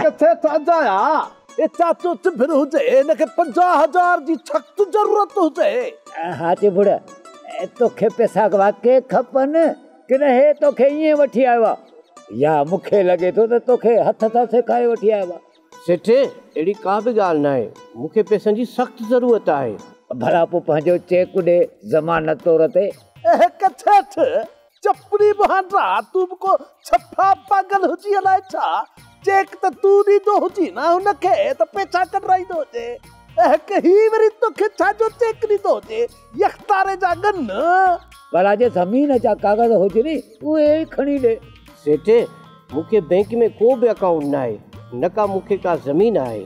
ڪٿي ٿا جايا اي چاچو چڀر هجي هن کي پنجاهه هزار جي سخت ضرورت هجي. ها چڀڙ توکي پيسا واقعي کپن ڪنه هي توکي ائين وٺي آيو آ يا مونکي لڳي ٿو ته توکي هٿ سان سيکاري وٺي آيو آ. سيٺ، اهڙي ڪا به ڳالهه ناهي، مون کي پئسن جي سخت ضرورت آهي. ڀلا پوء پنهنجو چيڪ ڏي ضمانت طور تي. اهڪ سيٺ، چپڙي مهانڊرا، تون به ڪو ڇپا پاڳل هجين الائي ڇا، چيڪ ته تون ڏيندو هجين ها هن کي ته پئسا ڪڍرائيندو هجين. اهڪ، هي وري توکي ڇا جو چيڪ ڏيندو هجي، يڪتاري جا ڳن. ڀلا جي زمين جا ڪاغذ هجني اهي ئي کڻي ڏي. سيٺ مون کي بئنڪ ۾ ڪو به اڪائونٽ ناهي نه ڪا مون کي ڪا زمين آهي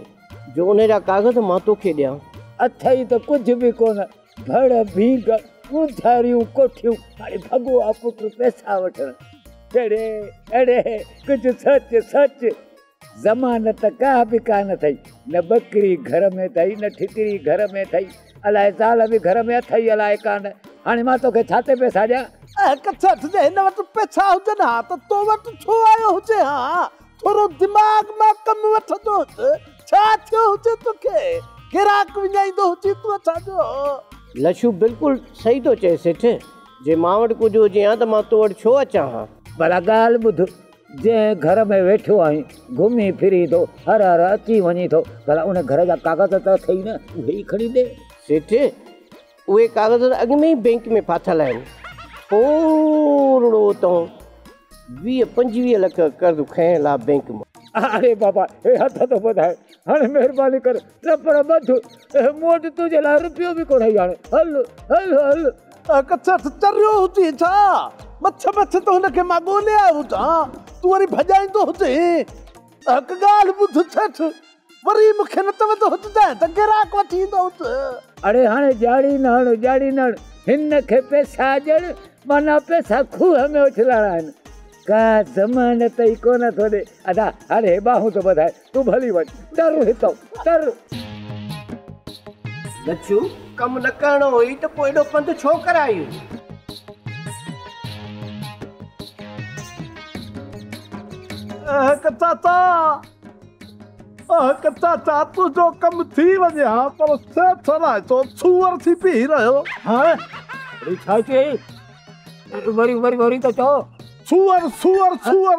جو ان جا ڪاغذ مان تو کي ڏيان. اٿئي ته ڪجهه به ڪونه ڀڙ ڀينگ اونداهريون ڪوٺيون هاڻي ڀڳو آ پٽ پئسا وٺڻ. ڙي ڙي ڪجهه سچ سچ. زمانت ته ڪا به ڪانه اٿئي، نه ٻڪري گهر ۾ اٿئي، نه ٺڪري گهر ۾ اٿئي، الاء زال به گهر ۾ اٿئي الاء ڪانه، هاڻي مان توکي ڇا تي پئسا ڏيان؟ اهي ڪڇٽ جي هن وٽ پئسا هجن ها ته تو وٽ ڇو آيو هجي ها؟ ٿورو دماغ مان ڪم وٺندو هج، ڇا ٿيو هجي توکي؟ گراڪ وڃائيندو هجين تون اسان جو؟ لڇو بلڪل صحيح ٿو چئي سيٺ، جي مان وٽ ڪجهه هجي ها ته مان تو وٽ ڇو اچان ها؟ ڀلا ڳالهه ٻڌ، جنهن گهر ۾ ويٺو آهين، گهمي ڦري ٿو، هر هر اچي وڃي ٿو، ڀلا ان گهر جا ڪاغذ ته اٿئي نه، اهي ئي کڻي ڏي. سيٺ، اهي ڪاغذ ته اڳ ۾ ئي بئنڪ ۾ ڦاٿل آهن. پورڙو تون ويهه پنجويهه لک قرض کنئين لا بئنڪ مان. اڙي بابا، هي هٿ ٿو ٻڌائي، هاڻي مهرباني ڪر نه پر ٻڌ، اهي مون وٽ تنهنجي لاء رپيو به ڪونهي هاڻي هل، هل، هل. اهي ڪٿي اٿ، تريو هجين ڇا؟ مٿي مٿي ته هن کي مان ڳولي آيو هجان، تون وري ڀڄائيندو هجين. اهي هڪ ڳالهه ٻڌ سيٺ، وري مون کي نه چوندو هججانء ته گراڪ وٺي ايندو هوس. اڙي هاڻي ڄاڙي نه هڻ، ڄاڙي نه هڻ، هن کي پئسا ڏيڻ معنيٰ پئسا کوهه ۾ اڇلائڻا آهن. ڪا ضمانت ئي ڪونه ٿو ڏي. ادا، هاڻي هي ٻانهون ته ٻڌاء، تون به هلي وڃ ٽر هتئون ٽر. لڇو ڪم نه ڪرڻو هئي ته پوء ايڏو پنڌ ڇو ڪرايون. اهڪ چاچا اهڪ چاچا تنهنجو ڪم ٿي وڃي ها پر سيٺ الائي ڇو سوئر ٿي پيهي رهيو. هانء وري ڇا چيئي وري وري وري ته چئو. سوئر سوئر سوئر.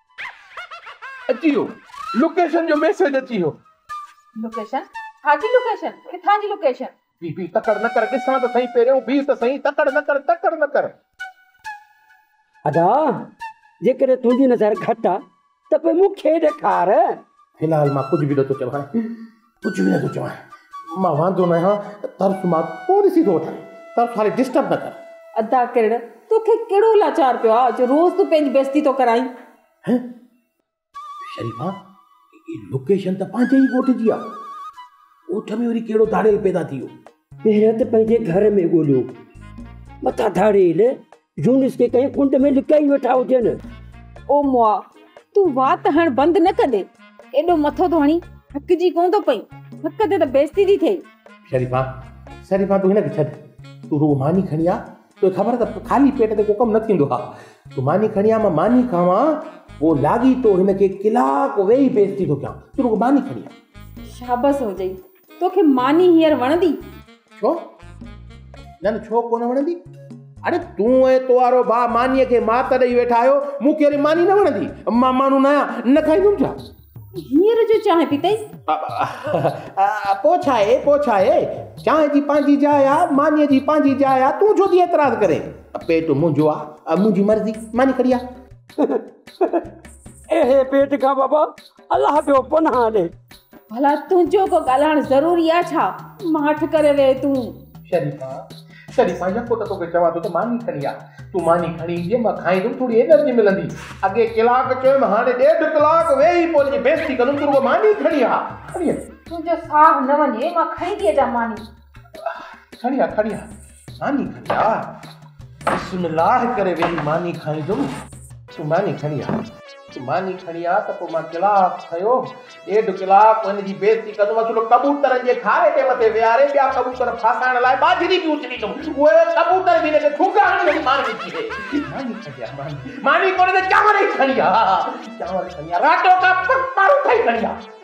اچي ويو لوڪيشن جو ميسيج اچي ويو. لوڪيشن؟ ڇا جي لوڪيشن؟ ڪٿان جي لوڪيشن؟ بي بي تڪڙ نه ڪر ڏسان ته سهين پهريون بيهه ته سهين تڪڙ نه ڪر تڪڙ نه ڪر. ادا جيڪڏهن تنهنجي نظر گهٽ آ ته پوء مون کي ڏيکار. في الحال مان ڪجهه به نٿو چوان. ڪجهه به نه ٿو چوان، مان واندو نه آهيان، طرف مان پاليسي ٿو وٺان، طرف هالي ڊسٽرب نه ڪر. ادا ڪرڻ، توکي ڪهڙو لاچار پيو آهي جو روز تون پنهنجي بيزتي ٿو ڪرائين. هه شريفا، هي لوڪيشن ته پنهنجي ئي ڳوٺ جي آهي، ڳوٺ ۾ وري ڪهڙو ڌاڙيل پيدا ٿي ويو. پهريان ته پنهنجي گهر ۾ ڳوليو، مٿان ڌاڙيل. يونس کي ڪنهن ڪنڊ ۾ لڪائي ويٺا هجن. او مئا! تون وات هڻڻ بند نه ڪندي؟ ايڏو مٿو ٿو هڻين، ٿڪجي ڪونه ٿو پئين؟ ٿڪ تي ته بيستي ٿي ٿئي. شريفا! شريفا! تون هن کي ڇڏ. تون رڳو ماني کڻي آ. توکي خبر اٿ ته خالي پيٽ تي ڪو ڪم نه ٿيندو آ. تون ماني کڻي آ، مان ماني کاوان. پوء لاڳيتو هن کي ڪلاڪ ويهي بيستي ٿو ڪيان. تون رڳو ماني کڻي آ. شابس هجئي. توکي ماني هينئر وڻندي؟ ڇو نه نه ڇو ڪونه وڻندي. اڙي تون ۽ توارو ڀاء مانيء کي مات ڏئي ويٺا آهيو، مون کي وري ماني نه وڻندي. مان ماڻهو ناهيان، نه کائيندم ڇا؟ هينئر جو چانهه پيتئي؟ پوء ڇا اهي، پوء ڇا اهي. چانهه جي پنهنجي جاء آهي، مانيء جي پنهنجي جاء آهي، تون ڇو ٿي اعتراض ڪرين. پيٽ منهنجو آهي، منهنجي مرضي، ماني کڙي آ. اهي پيٽ کان بابا الله پيو پناهه ڏي. ڀلا تنهنجو ڪو ڳالهائڻ ضروري آ ڇا؟ ماٺ ڪري ويهه تون. شريفا شريفا يڪو ته توکي چوان ٿو ته ماني کڻي آ. تون ماني کڻي ايندينء مان کائيندم ٿوري انرجي ملندي. اڳي ڪلاڪ چيم هاڻي ڏيڍ ڪلاڪ ويهي پوء تنهنجي بيستي ڪندم تون رڳو ماني کڻي آ. کڻي آ. تنهنجو ساهه نه وڃي مان کڻي ٿي اچان ماني. کڻي آ کڻي آ. ماني کڻي آ. بسم الله ڪري ويهي ماني کائيندم. تون ماني کڻي آ. تون ماني کڻي آ ته پوء مان ڪلاڪ کيو ڏيڍ ڪلاڪ هن جي بي عزتي ڪندم. اصل ڪبوترن جي کاري تي مٿي ويهاري ٻيا ڪبوتر ڦاسائڻ لاء ٻاجهري به اڇليندم. اهي ڪبوتر به هن کي ٺونگا هڻي هڻي مارجي ڪيهي. ماني کڻي آ. ماني. ماني ڪونه ته چانور ئي کڻي آ. چانور کڻي آ. راٽو ڪا پڪ پاروٿا ئي کڻي آ.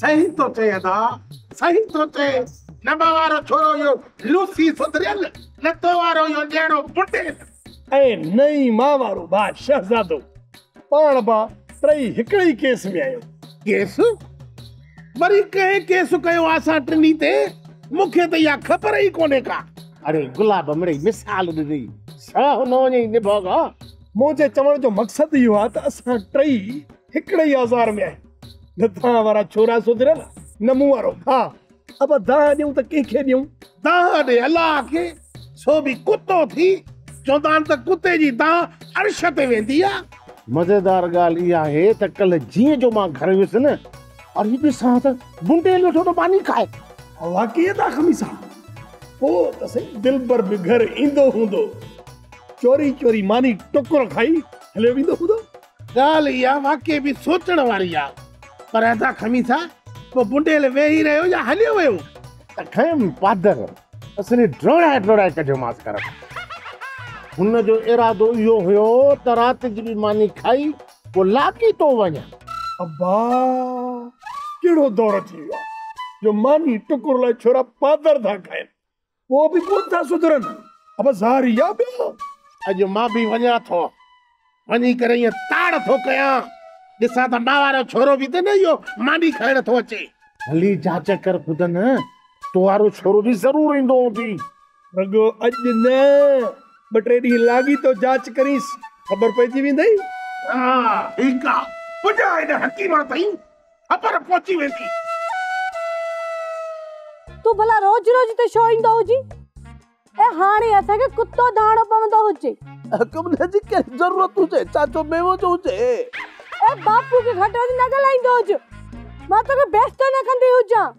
صحيح ٿو چئين ادا صحيح ٿو چئين نبا وارو ڇورو اهو لوسي سڌريل نتو وارو اهو ڄيڻو بنڊيل ۽ نئين ماء وارو ڀاء شهزادو پاڻ با ٽئي هڪڙي ئي ڪيس ۾ آهيو. ڪيس؟ وري ڪنهن ڪيس ڪيو آ اسان ٽنهي تي؟ مون کي ته اها خبر ئي ڪونهي ڪا. اڙي گلاب مڙئي مثال ڏني ساهو نه وڃئي نڀاڳا. منهنجي چوڻ جو مقصد اهو آ ته اسان ٽئي. هڪڙي ئي آزار ۾ آهيون. نه دانهن وارا ڇورا سڌريل، نه مون وارو ڀاء. ابا دانهن ڏيون ته ڪنهن کي ڏيون؟ دانهن ڏي الله کي، سو به ڪتو ٿي. چوندا آهن ته ڪتي جي دانهن عرش تي ويندي آهي. مزيدار ڳالهه اها آهي ته ڪلهه جيئن جو مان گهر ويس نه، اڙي ڏسان ته بنڊيل ويٺو ته ماني کائي. واقعي ٿا خميسا! پوء ته سائين دلبر به گهر ايندو هوندو. چوري چوري ماني ٽڪر کائي هليو ويندو هوندو. ڳالهه اها واقعي به سوچڻ واري آ پر ادا خميسا پوء بنڊيل ويهي رهيو يا هليو ويو؟ ته کيم پادر اصلي ڊوڙائي ڊوڙائي ڪڍيومانس گهر مان. هن جو ارادو اهو هيو ته رات جي به ماني کائي پوء لاڳيتو وڃان. ابا ڪهڙو دور اچي ويو آ جو ماني ٽڪر لاء ڇورا پادر ٿا کائين. پوء به ڪونه ٿا سڌرن. ابا زاري آ ٻيا. اڄ مان به وڃان ٿو. وڃي ڪري ائين تاڙ ٿو ڪيان. ڏسان ته مان وارو ڇورو به ته نه اهو ماني کائڻ ٿو اچي. ڀلي جاچ ڪر خودن. تو وارو ڇورو به ضرور ايندو هوندي. رڳو اڄ نه. ٻه ٽي ڏينهن لاڳيتو جاچ ڪرينس. خبر پئجي ويندئي. ها ٺيڪ آ. پڄ هن حڪيمان تائين. خبر پهچي ويندي. تون ڀلا روز روز هتي ڇو ايندو هجين؟ ۽ هاڻي اسان کي ڪتو ڌاڻو پوندو هجي. حڪم نه جي ڪهڙي ضرورت هجي، چاچو ميوو جو هجي. اي باپو کي گهٽ وڌ نه ڳالهائيندو هج. مان توکي بيستو نه ڪندي هجان.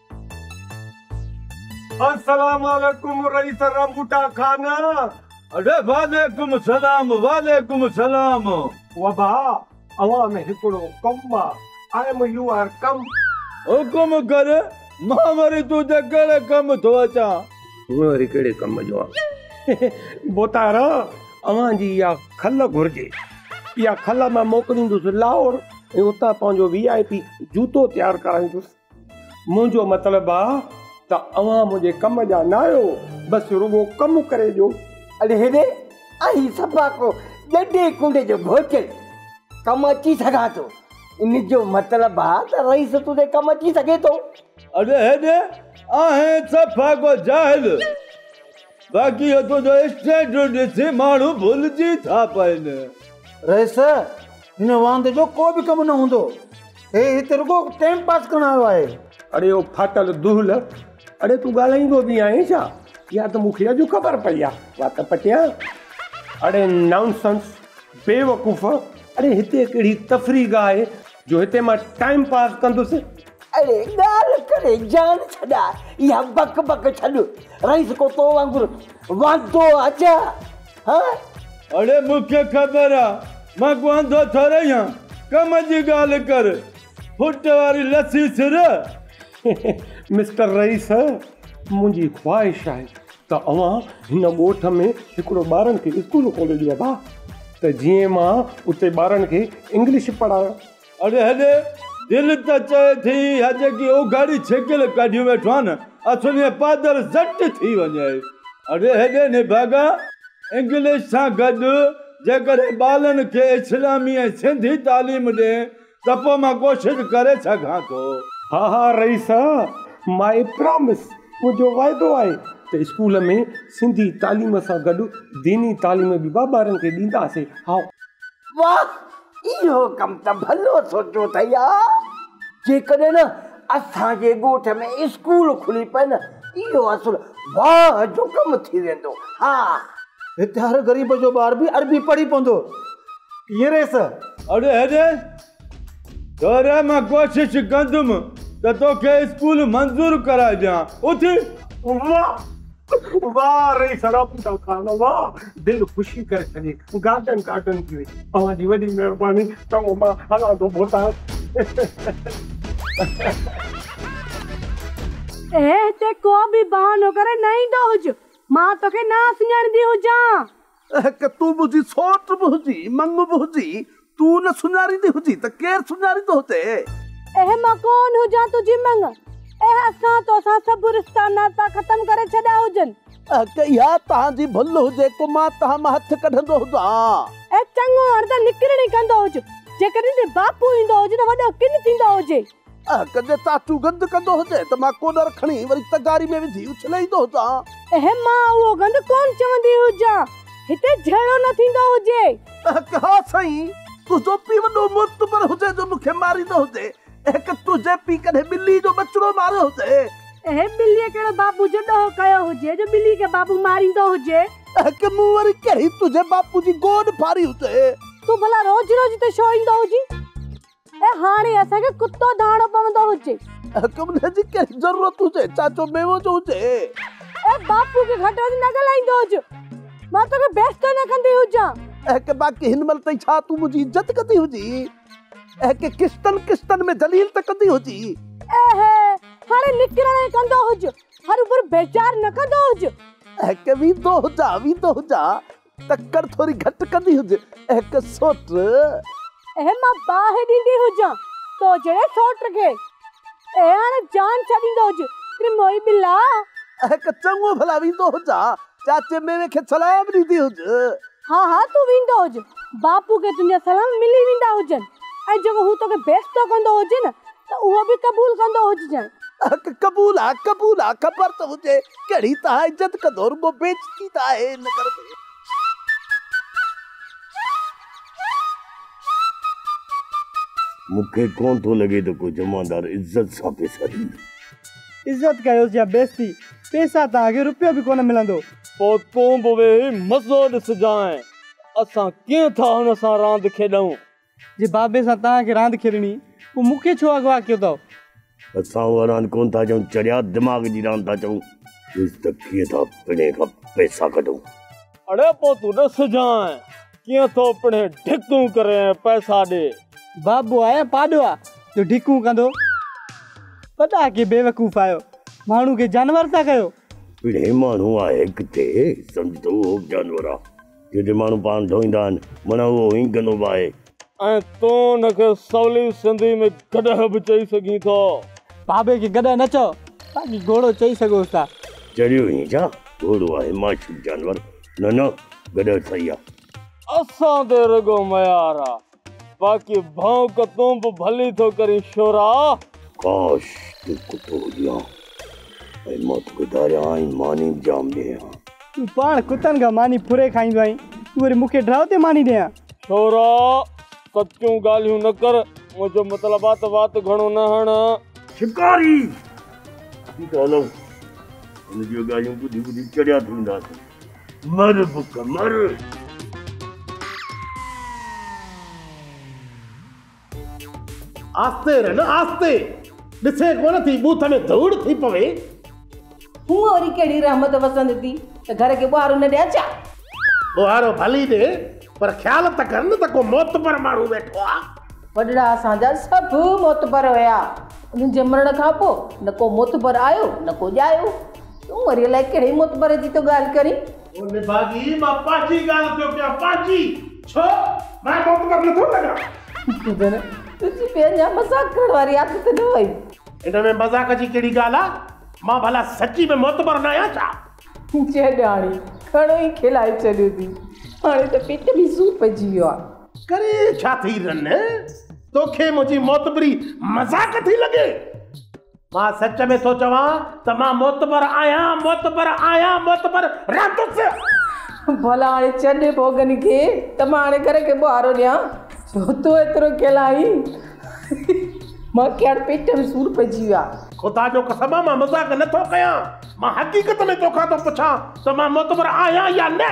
السلام عليڪم رئيس رنبوٽا خان. اڙي وعليڪم السلام وعليڪم السلام. وبا اوهان ۾ هڪڙو ڪم آ آئم يوئر ڪم. حڪم ڪر مان وري تون تي ڪهڙي ڪم ٿو اچان. تون وري ڪهڙي ڪم جو آن. بوتارا اوهان جي اها کل گهرجي. اها کل مان موڪليندس لاهور ۽ اتان پنهنجو وي آء پي جوتو تيار ڪرائيندس. منهنجو مطلب آ ته اوهان منهنجي ڪم جا نه آهيو، بس رڳو ڪم ڪري ڏيو. اڙي هيڏي، آء هي صفا ڪو ڏڍي ڪنڊي جو گهوٽيل ڪم اچي سگهان ٿو. ان جو مطلب آ ته رئيس تون تي ڪم اچي سگهي ٿو. اڙي هيڏي، آء هي صفا ڪو جاهل، باقي اهو تنهنجو اسٽينڊرڊ ڏسي ماڻهو ڀلجي ٿا پئن. رئيس، هن واند جو ڪو به ڪم نه هوندو. هي هت رڳو ٽيم پاس ڪرڻ آيو آهي. اڙي او ڦاٽل دهل! اڙي تون ڳالهائيندو به آهين ڇا؟ اها ته مون کي اڄ خبر پئي آ. وات پٽيان! اڙي نانسنس! بيوقوف! اڙي هتي ڪهڙي تفريح گاهه آهي جو هتي مان ٽائيم پاس ڪندس؟ اڙي ڳالهه ڪري جان ڇڏاء. اها بڪ بڪ ڇڏ. رئيس ڪو تو وانگر واندو آ ڇا؟ اڙي مون کي خبر آ مان ڪو انڌو ٿورئي آن ڪم جي ڳالهه ڪر ڦٽ واري لسي سر. مسٽر رئيس منهنجي خواهش آهي ته اوهان هن ڳوٺ ۾ هڪڙو ٻارن کي اسڪول کولي ڏيو ها ته جيئن مان اتي ٻارن کي انگلش پڙهايان. اڙي هيڏي، دل ته چئي ٿي اها جيڪي اوگهڙي ڇڪل ڪڍيون ويٺو آهي نه، اٿڻي پادر زٽ ٿي وڃي. اڙي هيڏي نڀاڳا، انگلش سان گڏ جيڪڏهن ٻالن کي اسلامي ۽ سنڌي تعليم ڏين ته پوء مان ڪوشش ڪري سگهان ٿو. ها ها رئيس، مائي پرامس، منهنجو واعدو آهي ته اسڪول ۾ سنڌي تعليم سان گڏ ديني تعليم به ٻارن کي ڏينداسين. هائو. واهه اهو ڪم ته ڀلو سوچيو اٿئي آء، جيڪڏهن نه اسان جي ڳوٺ ۾ اسڪول کلي پئي نه اهو اصل واهه جو ڪم ٿي ويندو. ها! هتي هر غريب جو ٻار به عربي پڙهي پوندو. ائين ريس؟ اڙي هيڏي! ٿوري مان ڪوشش ڪندم ته توکي اسڪول منظور ڪرائي ڏيان. اٿ! واه! واھ رئيس رابطا خان واھ دل خوشي ڪري ڇڏي گارڊن گارڊن ٿي وئي اوھان جي وڏي مھرباني چڱو مان ھلان ٿو ڀوتان اي ھتي ڪو به بھانو ڪري نه ايندو ھج مان توکي نه سڃاڻيندي ھجان. اهڪ تون به هجين، سوٽ به هجين، مڱ به هجين، تون نه سڃاريندي هجين ته ڪير سڃاريندو هتي؟ اهي مان ڪون هجان تنهنجي مڱ، اهي اسان توسان سڀ رشتا ناتا ختم ڪري ڇڏيا هجن. اهڪ اها تهان جي ڀل هجي ڪو مان تهان مان هٿ ڪڍندو هجان. اهڪ چڱو هڻ ته نڪرڻ ئي ڪندو هج، جيڪڏهن تنهنجو باپو ايندو هجي ته وڏو ڪن ٿيندو هجي. اهه ڪڏهن ٽاٽو گند ڪندو هجي ته مان ڪوڏر کڻي وري تغاري ۾ وجهي اڇلي ايندو هجان. اهه مان اهو گند ڪونه چوندي هجان. هتي جهيڙو نه ٿيندو هجي. اهه ها سائين. تنهنجو پيء وڏو معتبر هجي جو مون کي ماريندو هجي. اهه ڪه تنهنجي پيء ڪڏهن ٻلي جو ٻچڙو ماريو هجي. اهه ٻليء ڪهڙو بابو جو ڏوهه ڪيو هجي جو ٻلي کي بابو ماريندو هجي. اهه ڪه مون وري ڪهڙي تنهنجي باپو جي گوڏ ڦاڙي هجي. تون ڀلا روز روز هتي ڇو ايندو هجين. ۽ هاڻي اسان کي ڪتو ڌاڻو پوندو هجي. ڪمليء جي ڪهڙي ضرورت هجي، چاچو ميوو جو هجي. ۽ باپوء کي گهٽ وڌ نه ڳالهائيندو هج. مان توکي بيستو نه ڪندي هجان. ۽ باقي هن مهل تائين ڇا تون منهنجي عزت ڪندي هجي؟ ۽ قسطن قسطن ۾ ذليل ته ڪندي هجي. ۽ هاڻي نڪرڻ ۽ ڪندو هج. هروڀرو بيزار نه ڪندو هج. ۽ ويندو هجان، ويندو هجان. تڪڙ ٿوري گهٽ ڪندي هج اهڪ سوٽ. اهي مان باهه ڏيندي هجان تو جهڙي سوٽ کي. اهي هاڻ جان ڇڏيندو هج تي موئي ٻلا. اهڪ چڱو ڀلا ويندو هجان چاچي ميوي کي سلام ڏيندي هج. ها ها تون ويندو هج باپو کي تنهنجا سلام ملي ويندا هجن ۽ جيڪو هو توکي بيستو ڪندو هجي نه ته اهو به قبول ڪندو هججانء. اک قبول آ قبول آ خبر ته هجي ڪهڙي تهان عزت ڪندو رڳو بيعزتي ته آهي هن گهر ۾. مون کي ڪونه ٿو لڳي ته ڪو جمعدار عزت سان پيسا ڏيندو. عزت ڪيوس يا بيعزتي پيسا تان اڳي روپيو به ڪونه ملندو. پوء تون به ويهي مزو ڏسجانء. اسان ڪيئن ٿا هن سان راند کيڏون. جي بابي سان توهان کي راند کيڏڻي پوء مون کي ڇو اغوا ڪيو اٿئو؟ اسان اها راند ڪونه ٿا چئون چڙيا دماغ جي راند ٿا چئون. ڏس ته ڪيئن ٿا پڻهي کان پئسا ڪڍون. اڙي پوء تون ڏس جانء ڪيئن ٿو پڻهي ڍڪون ڪري ۽ پئسا ڏي. بابو آء پاڏو آ جو ڍڪون ڪندو. وڏا ڪي بيوقوف آهيو ماڻهو کي جانور ٿا ڪيو. پڻهي ماڻهو آهي ڪٿي سمجهه ٿو اهو به جانور آ. جتي ماڻهو پاڻ ڌوئيندا آهن، مڙهه اهو هئين گنو به آهي. ۽ تون ان کي سولي سنڌي ۾ گڏهه به چئي سگهين ٿو. بابي کي گڏهه نه چئو، باقي گهوڙو چئي سگهوس ٿا. چريو هئين ڇا؟ گهوڙو آهي معشوق جانور. نه نه گڏهه صحيح آهي. اسان تي رڳو ميار آهي. باقي ڀونڪ تون به ڀلي ٿو ڪرين شورا. ڪاش تون ڪتو هجين ها ۽ مان توکي ڌاريان ها ۽ ماني به جام ڏيئين ها. تون پاڻ ڪتن کان ماني ڦري کائيندو آهين تون وري مون کي ڊرائو تي ماني ڏين ها. شورا سچيون ڳالهيون نه ڪر منهنجو مطلب آ ته وات گهڻو نه هڻ. شڪاري! اسين ته هلون هن جون اهي ڳالهيون ٻڌي ٻڌي چڙيا ٿي وينداسين. مر بک مر. آھستي رن آھستي. ڏسين ڪونه ٿي بوٿ ۾ ڌوڙ ٿي پوي. ھونء وري ڪھڙي رحمت وسندي ٿي ته گھر کي ٻوھارو نه ڏيان ڇا؟ ٻوھارو ڀلي ڏي پر خيال ته ڪر نه ته ڪو معتبر ماڻھو ويٺو آ. وڏڙا اسان جا سڀ معتبر هيا. انهن جي مرڻ کان پوء نه ڪو معتبر آيو نه ڪو ڄايو. تون وري الائي ڪهڙي معتبر جي ٿو ڳالهه ڪرين؟ او نڀاڳي، مان پنهنجي ڳالهه ٿو ڪيان، پنهنجي. ڇو؟ مان معتبر نه ٿو لڳان. گدڙ، تنهنجي ٻين جا مذاق ڪرڻ واري عادت نه وئي. ان ۾ مذاق جي ڪهڙي ڳالهه آ؟ مان ڀلا سچي ۾ معتبر نه آهيان ڇا؟ جهڏاڻي، گهڻو ئي کلائي ڇڏيو ٿي. هاڻي ته پيٽ ۾ سور پئجي ويو آ. ڪري ڇا ٿي رن؟ توکي منهنجي معتبري مذاق ٿي لڳي؟ مان سچ ۾ ٿو چوان ته مان معتبر آهيان، معتبر آهيان، معتبر رهندس. ڀلا هاڻي ڇڏ ڀوڳني کي ته مان هاڻي گهر کي ٻوهارو ڏيان، جو تون ايترو ڪيل آهين. مان کي هاڻي پيٽ ۾ سور پئجي ويو آهي. خدا جو قسم آهي مان مذاق نه ٿو ڪيان، مان حقيقت ۾ توکان ٿو پڇان ته مان معتبر آهيان يا نه؟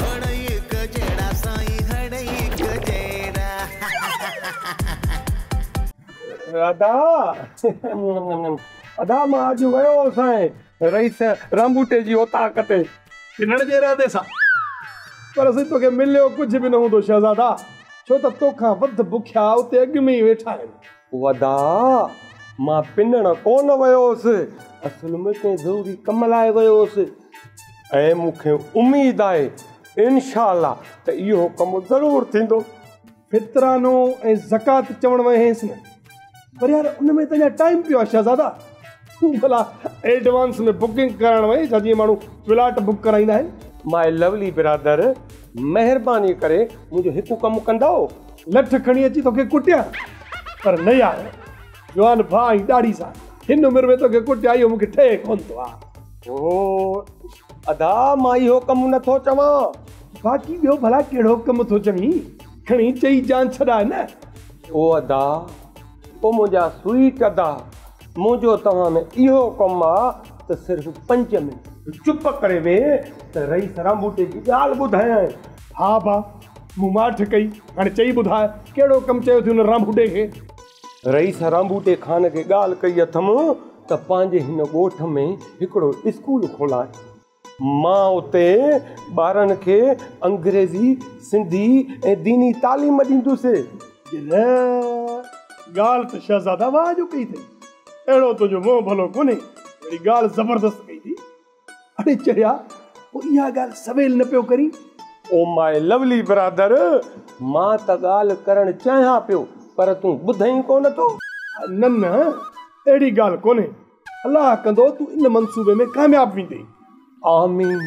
هڙئي هڪ جهڙا سائين هڙئي هڪ جهڙا. ادا ادا مان اڄ ويو هو سائين رئيس رامٻوٽي جي اوطاق تي. ڪنڙ جي ارادي سان پر سائين توکي مليو ڪجهه به نه هوندو شهزادا ڇو ته توکان وڌ بکيا اتي اڳ ۾ ئي ويٺا آهن. ودا، مان پنڻ ڪونه ويو هوس، اصل ۾ ڪنهن ضروري ڪم لاء ويو هوس ۽ مون کي اميد آهي انشاء الله ته اهو ڪم ضرور ٿيندو. فطرانو ۽ زڪوات چوڻ ويهينس نه، پر يار ان ۾ ته اڃا ٽائيم پيو آهي شهزادا. ڀلا ايڊوانس ۾ بڪنگ ڪرائڻ وئي ڇا جيئن ماڻهو فلاٽ بڪ ڪرائيندا آهن. مائي لوولي برادر مهرباني ڪري منهنجو هڪ ڪم ڪندؤ. لٺ کڻي اچي توکي ڪٽيان پر نه يار جوان ڀاء ۽ ڏاڙهي سان هن عمر ۾ توکي ڪٽيان اهو مونکي ٺهي ڪونه ٿو آء. اوهو ادا مان اهو ڪم نه ٿو چوان. باقي ٻيو ڀلا ڪهڙو ڪم ٿو چوين کڻي چئي جان ڇڏاء نه. اوه ادا اوه منهنجا سوئيٽ ادا. منهنجو توهان ۾ اهو ڪم آ ته صرف پنج منٽ تون چپ ڪري ويهه ته رئيس رانڀوٽي جي ڳالهه ٻڌايائين. ها ڀاء، مون ماٺ ڪئي، هاڻي چئي ٻڌاء، ڪهڙو ڪم چيو ٿي ان رانڀوٽي کي؟ رئيس رانڀوٽي خان کي ڳالهه ڪئي اٿم ته پنهنجي هن ڳوٺ ۾ هڪڙو اسڪول کولان. مان اتي ٻارن کي انگريزي، سنڌي ۽ ديني تعليم ڏيندس. جنھن ڳالھه ته شھزاده واهه جو ڪئي اٿئي، اهڙو تنھنجو منھن ڀلو ڪونھي، جهڙي ڳالھه زبردست ڪئي اٿئي. اڙي چڙيا، پوء اها ڳالھه سويل نه پيو ڪرين؟ او مائي لوولي برادر، مان ته ڳالھه ڪرڻ چاهيان پيو، پر تون ٻڌئين ڪونه ٿو. نه نه، اهڙي ڳالھه ڪونھي. الله ڪندو تون ان منصوبي ۾ ڪامياب ويندين. آمين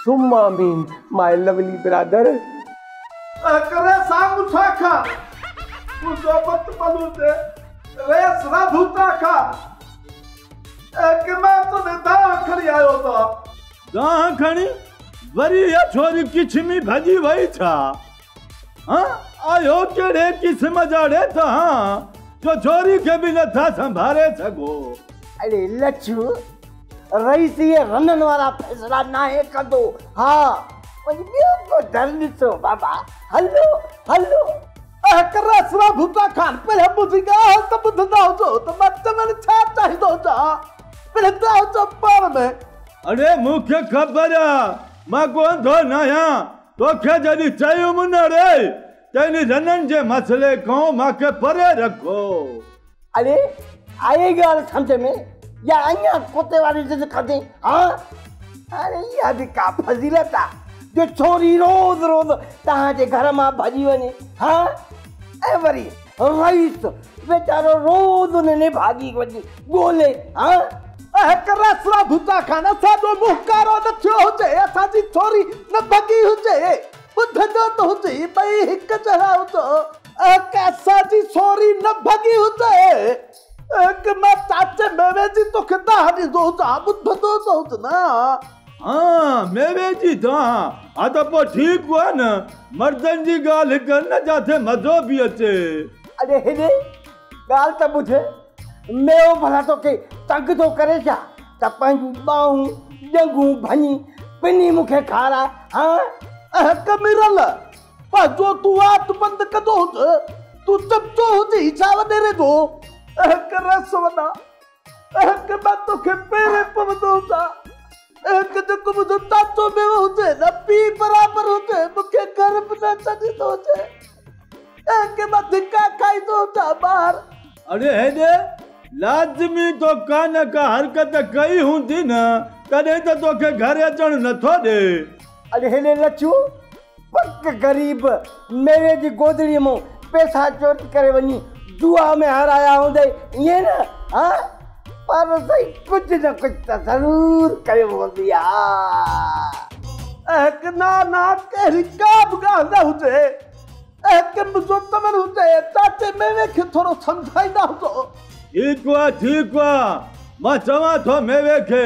ثم آمين ماي لولي برادر. تنهن ڪري سان مٺا کا تون صحبت پلو تي ريس را ڌوتا کا اي ڪي مان تنهنجي دانهن کڻي آيو ٿا. دانهن کڻي وري اها ڇوري ڪڇ ۾ ڀڄي وئي ڇا. هان آهيو ڪهڙي قسم جا ڙيٽ هان جو جوري کي به نٿا سنڀاري سگهو. اڙي لڇو رئيس اهي رنن وارا فيصلا ناهي ڪندو ها وڃي ٻيو ڪو در ڏسو بابا هلو هلو. اهڪ رئسرا ڀٽا خان پهريان منهنجي ڳالهه ته ٻڌندا هجو ته مان چوڻ ڇا چاهيندو هجان پهريان ته هجو پاڻ ۾. اڙي مون کي خبر آ مان ڪو انڌو ناهيان توکي جڏهن چيم نه ري ته ان رنن جي مسئلي کان مان کي پري رکو. اڙي آئي ڳالهه سمجهه ۾ يا اڃا ڪتي واري ضد ڪندين ها؟ اڙي اها به ڪا فضيلت آ جو ڇوري روز روز توهان جي گهر مان ڀڄي وڃي ها ۽ وري رئيس ويچارو روز انهن جي ڀاڄي وڃي ڳولي ها. اهڪ رس را ڀتا کان اسان جو منهن ڪارو نه ٿيو هجي، اسان جي ٿوري نه ڀڳي هجي. ٻڌ جو ته هجي، ٻئي هڪ جهڙا هجو. اهڪ اسان جي ٿوري نه ڀڳي هجي. اک مان چاچي ميوي جي توکي دانهن ڏيندو هجان ٻڌندو ته هج نه. ها ميوي جي دانهن ها ته پوء ٺيڪ هئا نه مردن جي ڳالهه ڪن نه جاتي مزو به اچي. اڙي هيڏي ڳالهه ته ٻڌ ميو ڀلا توکي تنگ ٿو ڪري ڇا ته پنهنجون ٻانهون ڄنگهون ڀڃي پني مونکي کاراء ها. اهڪ ميرل پنهنجو تون وات بند ڪندو هج، تون چمچو هجي ڇا وڏيري جو؟ اهڪ رس وڏا، اهڪ مان توکي پيري پوندو هجان، اهڪ جيڪو منهنجو تازو ميوو هجي نه پيء برابر هجي، مون کي گهر به نه اچڻ ڏيندو هجي، اهڪي مان ڌڪا کائيندو هجان ٻاهر. اڙي هيڏي، لازمي تو ڪانه ڪا حرڪت ڪئي هوندي نه، تڏهن ته توکي گهر اچڻ نٿو ڏي. اڙي هيڏي لڇو! پڪ غريب ميري جي گودڙي مون پيسا چوري ڪري وڃي جوا ۾ هارايا هوندئي ائين نه ها پر سائين ڪجهه نه ڪجهه ته ضرور ڪيو هوندئي ها. اهڪ نا نا ڪهڙي ڪا به ڳالهه نه هجي اهڪ منهنجو تمن هجي چاچي ميوي کي ٿورو سمجهائيندا هجو. ٺيڪ آ ٺيڪ آ مان چوان ٿو ميوي کي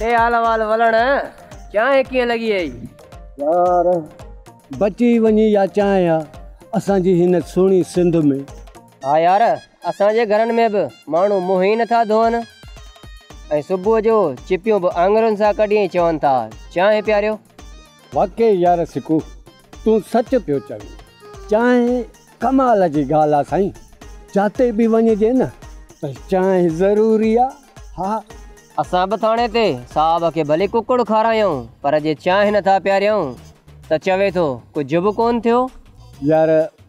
ڏي حال احوال ولڻ، چانهه ڪيئن لڳي اهي؟ يار بچي وڃي يا چانهه آ اسان جي هن سهڻي سنڌ ۾. ها يار اسان جي گهرن ۾ به ماڻهو منهن ئي نٿا ڌوئن ۽ صبح جو چپيون به آڱرين سان ڪڍي ۽ چون ٿا چانهه پياريو. واقعي يار سڪو تون سچ پيو چوين. چانهه ڪمال جي ڳالهه آ سائين جاتي به وڃجي نه ته چانهه ضروري آ ها. اسان به ٿاڻي تي صاحب کي ڀلي ڪڪڙ کارايائون پر جي چانهه نٿا پياريائون ته چوي ٿو ڪجهه به ڪون ٿيو. يار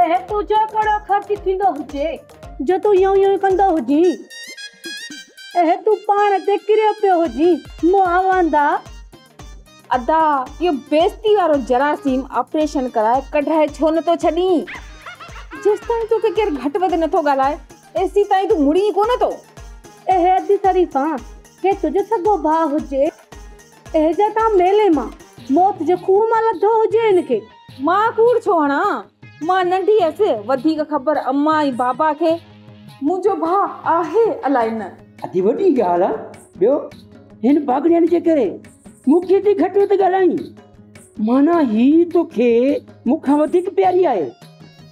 اهي تنهنجا ڪهڙا خرچ ٿيندو هجي، جو تون ايئن ايئن ڪندو هجين. اهي تون پاڻ تي ڪريو پيو هجين، مون آواندا. ادا، اهو بيستي وارو جراثيم آپريشن ڪرائي ڪڍرائي ڇو نه ٿو ڇڏين؟ جيستائين توکي ڪير گهٽ وڌ نه ٿو ڳالهائي، تيستائين تون مڙين ڪو نه ٿو. اهي ادي شريفان، ڪي تنهنجو سڳو ڀاء هجي، اهي جا تان ميلي مان، موت جي کوهه مان لڌو هجي، هن کي. مان ڪوڙ ڇو هڻان؟ مان ننڍي هيس، وڌيڪ خبر امان ۽ بابا کي. منهنجو ڀاء آهي الائي نه. اڌي وڏي ڳالهه آ. ٻيو هن پاڳڙين جي ڪري مون کي ايتري گهٽ وڌ ڳالهائين. معنيٰ هي توکي مون کان وڌيڪ پياري آهي.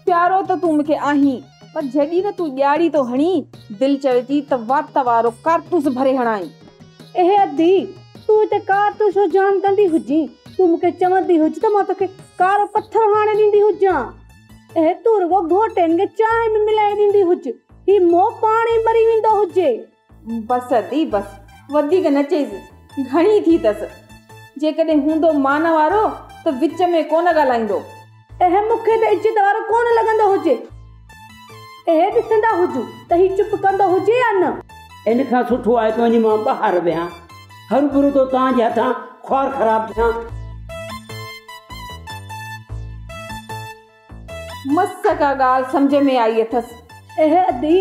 پيارو ته تون مون کي آهين. پر جيڏي نه تون ڄاڙي ٿو هڻين، دل چوي ٿي ته وات وارو ڪارتوس ڀري هڻائين. اهي ادي، تون هتي ڪارتوس جو جام ڪندي هجين، تون مون کي چوندي هج ته مان توکي ڪارو پٿر هاڻي ڏيندي هجان. اهي، تون رڳو گهوٽين کي چانهه ۾ ملائي ڏيندي هج، هي مئو پاڻ ئي مري ويندو هجي. بس ادي بس وڌيڪ نه چئيس گهڻي ٿي تس جيڪڏهن هوندو مان وارو ته وچ ۾ ڪونه ڳالهائيندو. اهي مون کي ته عزت وارو ڪونه لڳندو هجي. اهي ڏسندا هجون ته هي چپ ڪندو هجي يا نه. ان کان سٺو آهي ته وڃي مان ٻاهر ويهان. هروڀرو ٿو توهان جي هٿان خوار خراب ٿيان. مس ڪا ڳالهه سمجهه ۾ آئي اٿس. اهي ادي،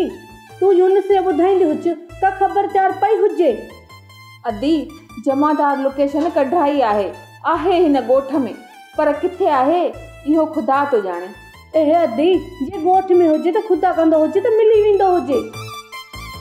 تون يونس کي ٻڌائيندي هج ته خبردار پئي هجي. ادي، جمعدار لوڪيشن ڪڍرائي آهي. آهي هن ڳوٺ ۾، پر ڪٿي آهي، اهو خدا ٿو ڄاڻي. اهي ادي، جي ڳوٺ ۾ هجي ته خدا ڪندو هجي ته ملي ويندو هجي.